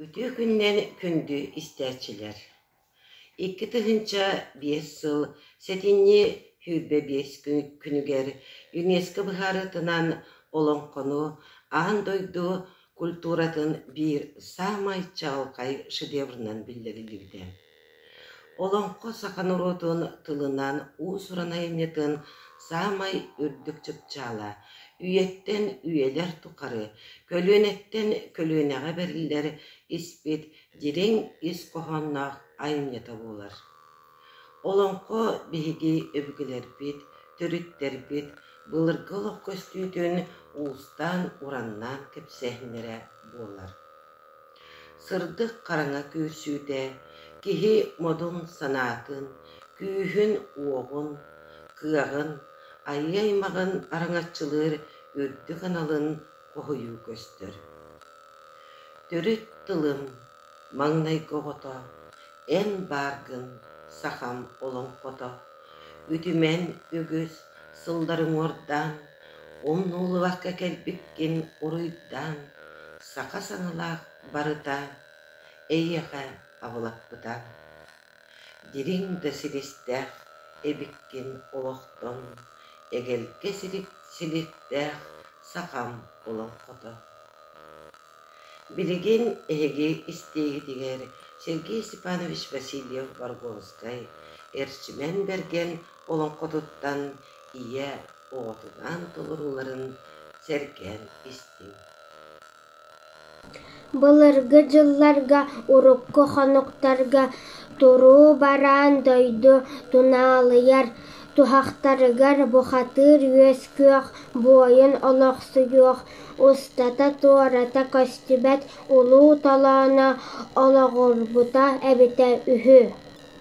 Ытыы күнүнэн күндү истээччилэр! Икки тыһыынча биэс сыл сэтинньи сүүрбэ биэс күнүгэр ЮНЕСКО быһаарытынан олоҥхону аан дойду культуратын биир саамай чаҕылхай шедеврынан биллэриллибитэ. Олоҥхо саха норуотун тылынан уус-уран айымньытын саамай үрдүк чыпчаала, үйэттэн үйэлэр тухары көлүөнэттэн көлүөнэҕэ бэриллэр испит дириҥ ис хоһоонноох айымньыта буолар. Олоҥхо биһиги өбүгэлэрбит, төрүттэрбит былыргы олох көстүүтүн уустаан-ураннаан кэпсээһиннэрэ буолар. Сырдык хараҥа күрсүүтэ киһи модун-санаатын, күүһүн-уоҕун, кыаҕын, айыы-аймаҕын араҥаччылыыр үрдүк аналын хоһуйуу көстөр. Төрүт тылым Маҥнайгы оҕото, эн бааргын, сахам олоҥхото, үтүмэн үгүс сылларыҥуордаан, умнуллубакка кэлбиккин уруйдаан, саха саҥалаах барыта эйиэхэ абылаппыта. Дириҥ да силистээх эбиккин олохтон, эгэлгэ силиктээх сахам олоҥхото. Билигин эһиги истиигитигэр Сергей Степанович Васильев-Баргонскай Эрчимэн Бэргэн олоҥхотуттан ийэ оҕотунаан толорууларын сэргээн истиҥ Былыргы дьылларга урукку хонуктарга туруу бараан дойду тунаалыйар туһахтарыгар бухатыыр үөс-күөх, буойун олохсуйуох устата-туората көстүбэт улуу толооно олоҕурбута эбитэ үһү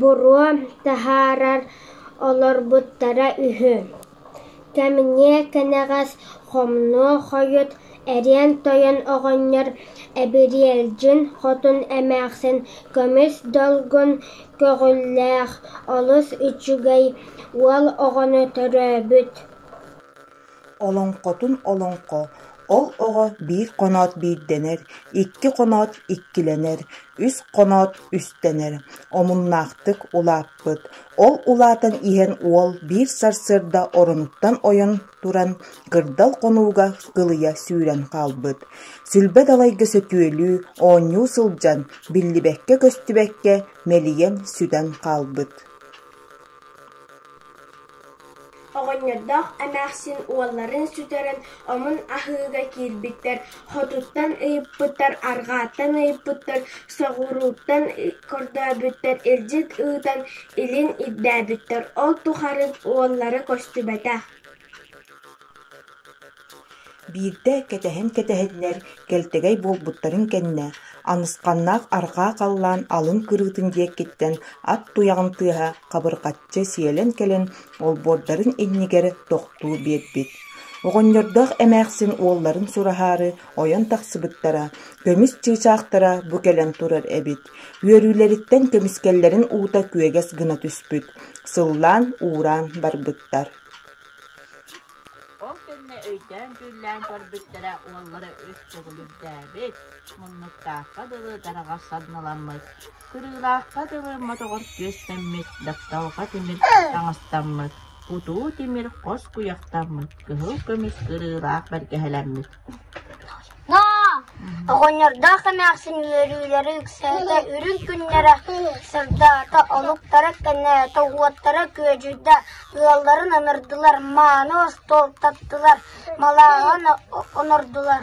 Боруо таһаарар олорбуттара үһү. Кэмниэ кэнэҕэс хомнуо хойут эриэн-тойон оҕонньор Эбириэлдьин хотун эмээхсин көмүс долгун көҕүллээх олус үчүгэй уол оҕону төрөөбүт Олоҥхотун олоҥхо, ол оҕо биир хоноот биирдэнэр, икки хоноот иккилэнэр, үс хоноот үстэнэр, омуннаахтык улааппыт. Ол улаатан иһэн уол биир сарсыарда оронуттан ойон туран кырдал хонууга кылыйа сүүрэн хаалбыт. Сүлбэ далайга сөтүөлүү, оонньуу сылдьан, биллибэккэ-көстүбэккэ мэлийэн сүтэн хаалбыт. Оҕонньордоох эмээхсин уолларын сүтэрэн омун аһыыга киирбиттэр, хотуттан ыйыппыттар, арҕааттан ыйыппыттар, соҕурууттан көрдөөбүттэр, илдьит ыытан илин ирдээбиттэр, ол тухары уоллара көстүбэтэх Биирдэ кэтэһэн-кэтэһиннэр кэлтэгэй буолбуттарын кэннэ, Анысханнаах арҕаа халлаан алын кырыытын диэкиттэн ат туйаҕын тыаһа хабырҕаччы сиэлэн кэлэн олбуордарын иннигэр тохтуу биэрбит, оҕонньордоох эмээхсин уолларын сураһаары ойон тахсыбыттара, көмүс чыычаахтара бу кэлэн турар эбит, үөрүүлэриттэн көмүскэллэрин уута күөгэс гына түспүт, сыллаан-уураан барбыттар Ол кэннэ өйдөөн-түүллээн көрбүттэрэ уоллара үс чөкүлүрдээбит, муннуктаахха дылы дараҕар садныламмыт, кырыылаахха дылы мотоҕор күөстэммит, тапталга тимир таҥастаммыт, кутуу тимир хос куйахтаммыт, кыһыл көмүс кырыылаах бэргэһэлэммит Оҕонньордоох эмээхсин үөрүүлэрэ үксээтэ үрүҥ күннэрэ, сырдаата, олуктара кэнээтэ, уоттара күөдьүйдэ, ыалларын анардылар, мааны остуол таптылар, малааҕын онордулар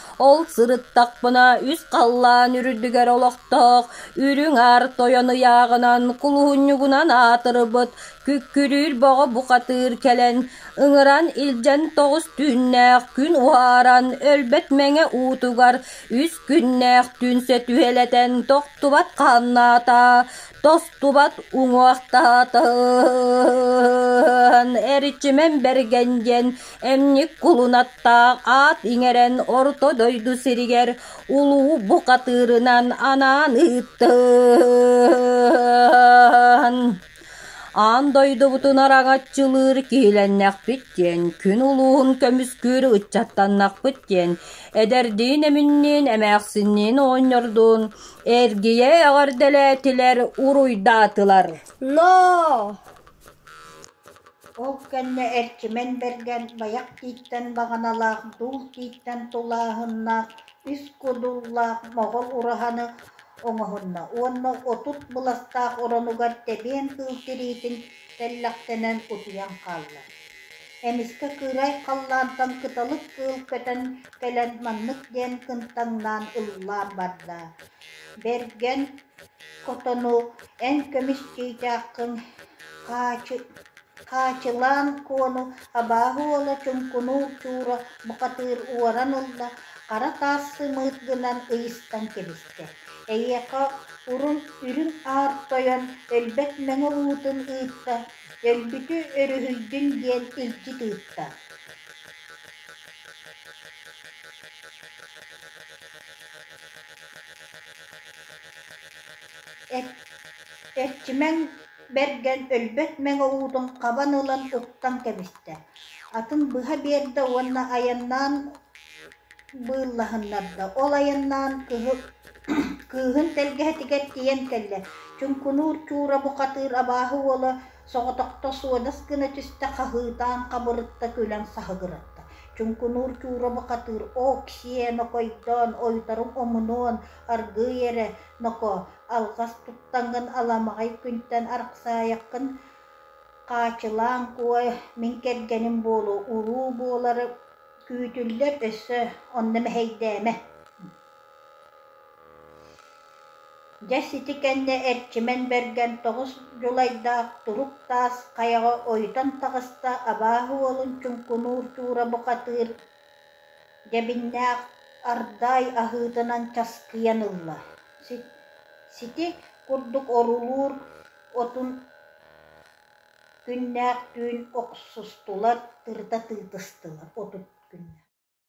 Ол сырыттахпына үс халлаан үрдүгэр олохтоох үрүҥ аар тойон ыйааҕынан кулуһунньугунан аатырбыт күккүрүүр бөҕө бухатыыр кэлэн ыҥыран илдьэн тоҕус түүннээх күн уһааран өлбөт мэҥэ уутугар үс күннээх түн сөтүһэлэтэн тохтубат хааннаатаа, тостубат уҥуохтаатаһын, эрчимэн бэргэн диэн Эмньик кулунаттаах аат иҥэрэн Орто дойду сиригэр улуу бухатыырынан анаан ыыттын. Аан дойдубутун араҥаччылыыр киһилэннэхпит диэн, күн улууһун көмүскүүр ыччаттаннахпыт диэн, эдэрдиин эминниин эмээхсинниин оонньордуун эргийэ эҕэрдэлээтилэр, уруйдаатылар. Но Ол кэннэ Эрчимэн Бэргэн Байах тииттэн баҕаналаах Дуул тииттэн тулааһыннаах ис кудуллаах моҕол ураһаны оҥоһунна уонна отут быластаах оронугар тэбиэн кыыл тириитин тэллэхтэнэн утуйан хаалла. Эмискэ кыырай халлаантан кыталык кыыл көтөн кэлэн маннык диэн кынтаҥнаан ыллаан барда: Бэргэн, хотону эн көмүскүүтээххин хаачылаан Куону абааһы уола чуҥкунуур чуура бухатыыр уоран ылла, хара таас сымыыт гынан ыйыстан кэбистэ, эйиэхэ урун үрүҥ аар тойон өлбөт мэҥэ уутун ыытта, өлбүтү өрүһүйдүн диэн илдьит ыытта Эрчимэҥ Бэргэн өлбөт мэҥэ уутун хабан ылан уктан кэбистэ, атын быһа биэрдэ уонна айаннаан быыллаһыннарда. Ол айаннаан кыһы кыыһын тэлгэһэтигэр тиийэн кэллэ. Чуҥкунуур Чуура бухатыыр абааһы уола Соҕотохто суодас гына түстэ, хаһыытаан хабырытта, күлэн саһыгыратта. Чуҥкунуур Чуура бухатыыр «Оо, ксиэ, нокойдоон, ойуторум омунуон, аргыый эрэ, нокоо, алҕас туттан гын, аламаҕай күнтэн арахсаайаххын, хаачылаан куой, мин кэргэним буолуо, уруу буолары күүтүллэр өссө, онно мэһэйдээмэ» Дьэ сити кэннэ Эрчимэн Бэргэн тоҕус дьулайдаах турук таас хайаҕа ойутан таҕыста абааһы уолун чуҥкунуур чуура бухатыыр дьэбиннээх ардаай аһыытынан часкыйан ылла сити курдук орулуур отун күннээх түүн охсустулар тырыта тыытыстылар отут күннээх